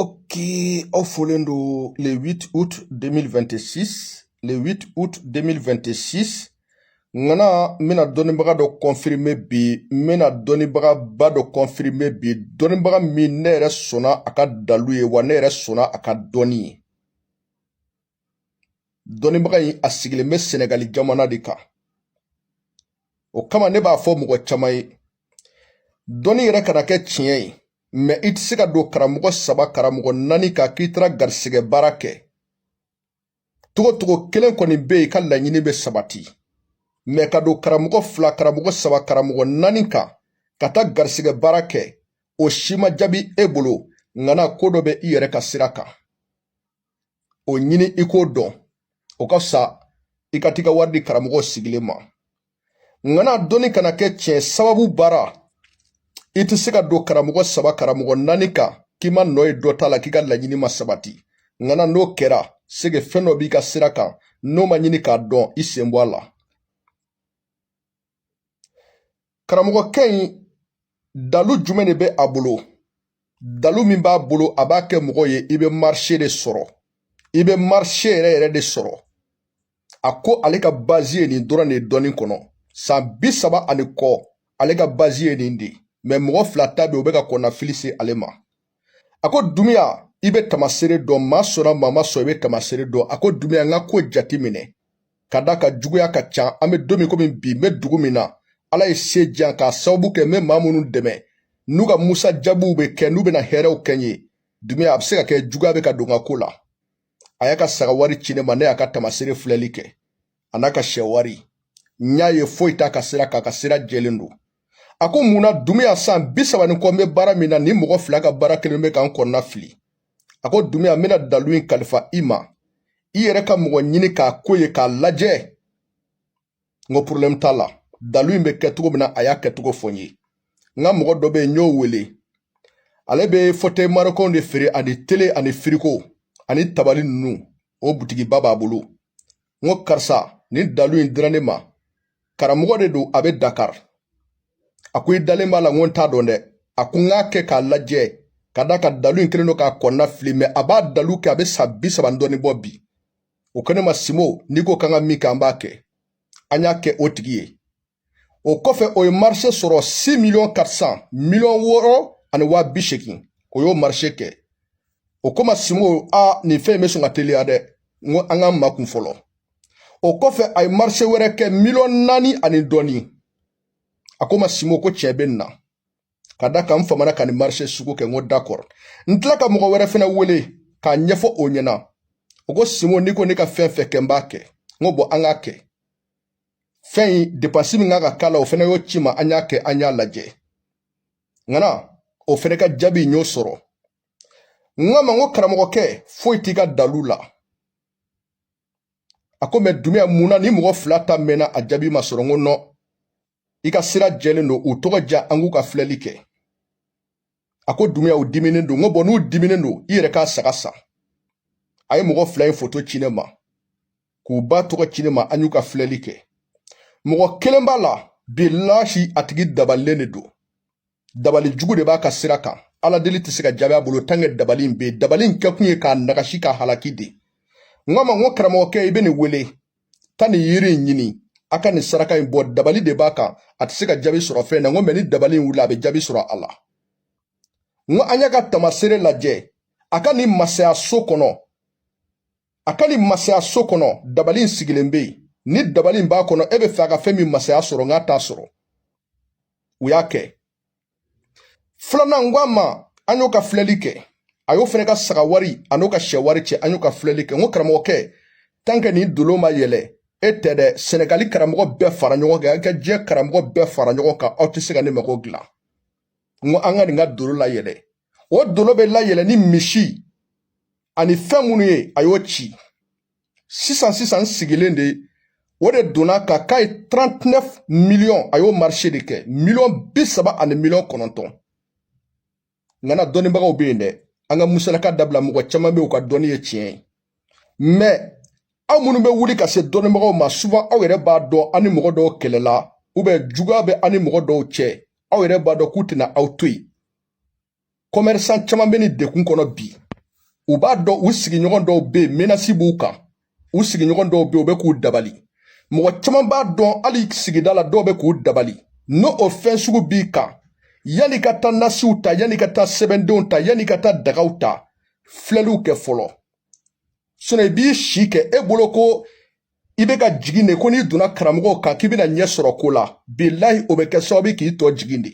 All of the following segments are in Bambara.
Ok, aw folen don le 8 août 2026 le 8 août 2026 ŋana n bɛna dɔnnibaga dɔ kɔnfirime bi n bɛna dɔnnibagaba dɔ kɔnfirime bi dɔnnibaga min ne yɛrɛ sɔnna a ka dalu ye wa ne yɛrɛ sɔnna a ka dɔnni ye dɔnnibaga in a sigilen bɛ sɛnɛgali jamana de kan o kama ne b'a fɔ mɔgɔ caman ye dɔnni yɛrɛ kana kɛ tiɲɛ ye mɛ i tɛ se ka don karamɔgɔ saba karamɔgɔ naani kan k'i taara garisɛgɛ baara kɛ togotogo kelen kɔni bɛ yen ka laɲini bɛ sabati mɛ ka don karamɔgɔ fila karamɔgɔ saba karamɔgɔ naani kan ka taa garisɛgɛ baara kɛ o si ma jaabi e bolo ŋana ko dɔ bɛ i yɛrɛ ka sira kan o ɲini i k'o dɔn o ka fisa i ka t'i ka wari di karamɔgɔ sigilen ma ŋana dɔnni kana kɛ tiɲɛ sababu baara i tɛ se ka don karamɔgɔ saba karamɔgɔ naani kan k'i ma nɔ ye dɔ t'a la k'i ka laɲini ma sabati ŋana n'o kɛra c'est que fɛn dɔ b'i ka sira kan n'o ma ɲini k'a dɔn i sen bɔ a la karamɔgɔkɛ in dalu jumɛn de bɛ a bolo dalu min b'a bolo a b'a kɛ mɔgɔ ye i bɛ marise de sɔrɔ i bɛ marise yɛrɛ yɛrɛ de sɔrɔ a ko ale ka bazi ye nin dɔrɔn de dɔnni kɔnɔ san bi saba ani kɔ ale ka bazi ye nin de mɛ mɔgɔ fila ta bɛ u bɛ ka kɔnɔnafili se ale ma a ko dunbiya i bɛ tamasere dɔn maa sɔnna maa ma sɔn i bɛ tamasere dɔn a ko dunbiya n ka ko jate minɛ ka d'a kan juguya ka ca an bɛ don min komi bi n bɛ dugu min na ala ye se di yan k'a sababu kɛ n bɛ maa minnu dɛmɛ n'u ka musajabiw bɛ kɛ n'u bɛna hɛrɛw kɛ n ye dunbiya a bɛ se ka kɛ juguya bɛ ka don n ka ko la a y'a ka saga wari ci ne ma ne y'a ka tamasere filɛli kɛ an'a ka sɛ wari n y'a ye foyi t'a ka sira kan a ka sira jɛlen don a ko mun na dunbiya san bi saba ni kɔ n bɛ baara min na nin mɔgɔ fila ka baara kelen bɛ ka n kɔnɔna fili a ko dunbiya n bɛna dalu in kalifa i ma i yɛrɛ ka mɔgɔ ɲini k'a ko ye k'a lajɛ n ko porobilɛmu t'a la dalu in bɛ kɛ cogo min na a y'a kɛcogo fɔ n ye n ka mɔgɔ dɔ bɛ yen n y'o wele ale bɛ fɔtɛyi marokɛnw de feere ani tele ani firigo ani tabali ninnu o butigiba b'a bolo n ko karisa nin dalu in dira ne ma karamɔgɔ de don a bɛ dakari a ko i dalen b'a la n ko n t'a dɔn dɛ a ko n k'a kɛ k'a lajɛ ka d'a kan dalu in kɛlen don k'a kɔnɔna fili mɛ a b'a dalu kɛ a bɛ san bi saba ni dɔɔni bɔ bi o ko ne ma sinbo n'i ko k'an ka min kɛ an b'a kɛ an y'a kɛ o tigi ye o kɔfɛ o ye marise sɔrɔ si miliyɔn katirisan miliyɔn wɔɔrɔ ani waa bi seegin o y'o marise kɛ o ko ma simbo a nin fɛn in bɛ sɔn ka teliya dɛ n ko an ka makun fɔlɔ o kɔfɛ a ye marise wɛrɛ kɛ miliyɔn naani ani dɔɔni a ko ma simbo ko tiɲɛ bɛ nin na ka da kan n famana ka nin marise sugu kɛ n ko dakɔrɔ n tila ka mɔgɔ wɛrɛ fɛnɛ wele k'a ɲɛfɔ o ɲɛna o ko simbo n'i ko ne ka fɛn fɛn kɛ n b'a kɛ n ko bɔn an k'a kɛ fɛn in depansi min kan ka k'a la o fɛnɛ y'o ci ma an y'a kɛ an y'a lajɛ ŋana o fɛnɛ ka jaabi n y'o sɔrɔ n k'a ma n ko karamɔgɔkɛ foyi t'i ka dalu la a ko mɛ dunbiya mun na nin mɔgɔ fila ta mɛnna a jaabi ma sɔrɔ n ko nɔn i ka sira jɛlen don u tɔgɔ ja an k'u ka filɛli kɛ a ko dunbiya u diminen don n ko bɔn n'u diminen don i yɛrɛ k'a saga san a ye mɔgɔ fila in foto ci ne ma k'u ba tɔgɔ ci ne ma an y'u ka filɛli kɛ mɔgɔ kelen b'a la bilahi a tigi dabalilen de don dabali jugu de b'a ka sira kan ala deli tɛ se ka jaabi a bolo tanke dabali in bɛ yen dabali in kɛkun ye k'a nagasi k'a halaki de n k'a ma n ko karamɔgɔkɛ i bɛ nin wele ka nin yiri in ɲini a ka nin saraka in bɔ dabali de b'a kan a tɛ se ka jaabi sɔrɔ fɛn na n ko mɛ ni dabali in wulila a bɛ jaabi sɔrɔ a la n ko an y'a ka tamasere lajɛ a ka nin masaya so kɔnɔ a ka nin masaya so kɔnɔ dabali in sigilen bɛ yen ni dabali in b'a kɔnɔ e b'a fɛ a ka fɛn min masaya sɔrɔ n k'a t'a sɔrɔ u y'a kɛ filanan n ko a ma an y'o ka filɛli kɛ a y'o fɛnɛ ka saga wari an'o ka sɛ wari ci an y'o ka filɛli kɛ n ko karamɔgɔkɛ tanke nin dolo ma yɛlɛ e tɛ dɛ sɛnɛgali karamɔgɔ bɛɛ fara ɲɔgɔn kan ka diɲɛ karamɔgɔ bɛɛ fara ɲɔgɔn kan aw tɛ se ka nin mago dilan n ko an ka nin ka dolo layɛlɛ o dolo bɛ layɛlɛ ni misi ani fɛn minnu ye a y'o ci sisan sisan sigilen de o de donna ka k'a ye 39 miliyɔn a y'o marise de kɛ miliyɔn bi saba ani miliyɔn kɔnɔntɔn ŋana dɔnnibagaw bɛ yen dɛ an ka musalaka dabila mɔgɔ caman bɛ yen u ka dɔnni ye tiɲɛ ye mɛ aw minnu bɛ wuli ka se dɔnnibagaw ma suvan aw yɛrɛ b'a dɔn an ni mɔgɔ dɔw kɛlɛla ubiyɛn juguya bɛ an ni mɔgɔ dɔw cɛ aw yɛrɛ b'a dɔn k'u tɛna aw to yen kɔmɛrisan caman bɛ nin degun kɔnɔ bi u b'a dɔn u sigiɲɔgɔn dɔw bɛ yen menasi b'u kan u sigiɲɔgɔn dɔw bɛ yen u bɛ k'u dabali mɔgɔ caman b'a dɔn hali sigida la dɔw bɛ k'u dabali n'o fɛn sugu b'i kan yann'i ka taa nasiw ta yann'i ka taa sɛbɛndenw ta yann'i ka taa dagaw ta filɛliw kɛ fɔlɔ sinɔn i b'i si kɛ e bolo ko i bɛ ka jigin de ko n'i donna karamɔgɔw kan k'i bɛna ɲɛ sɔrɔ ko la bilahi o bɛ kɛ sababu k'i tɔ jigin de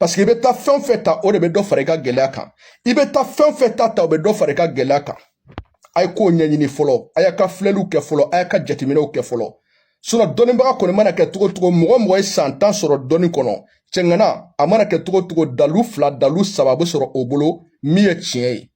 paseke i bɛ taa fɛn fɛn ta o de bɛ dɔ fara i ka gɛlɛya kan i bɛ taa fɛn fɛn ta ta o bɛ dɔ fara i ka gɛlɛya kan a ye kow ɲɛɲini fɔlɔ a y'a ka filɛliw kɛ fɔlɔ a y'a ka jateminɛw kɛ fɔlɔ sinɔn dɔnnibaga kɔni mana kɛ cogo cogo mɔgɔ mɔgɔ ye san tan sɔrɔ dɔnni kɔnɔ cɛŋana a mana kɛ cogo cogo dalu fila dalu saba bɛ sɔrɔ o bolo min ye tiɲɛ ye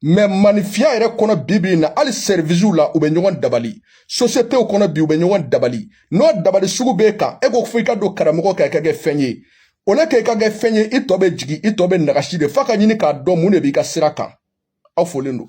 mɛ manifiya yɛrɛ kɔnɔ bi bi in na hali sɛriwisiw la u bɛ ɲɔgɔn dabali sosiyetew kɔnɔ bi u bɛ ɲɔgɔn dabali n'o dabali sugu b'e kan e ko fo i ka don karamɔgɔ kan i ka kɛ fɛn ye o la k'e ka kɛ fɛn ye i tɔ bɛ jigin i tɔ bɛ nagasi de f'a ka ɲini k'a dɔn mun de b'i ka sira kan aw folen don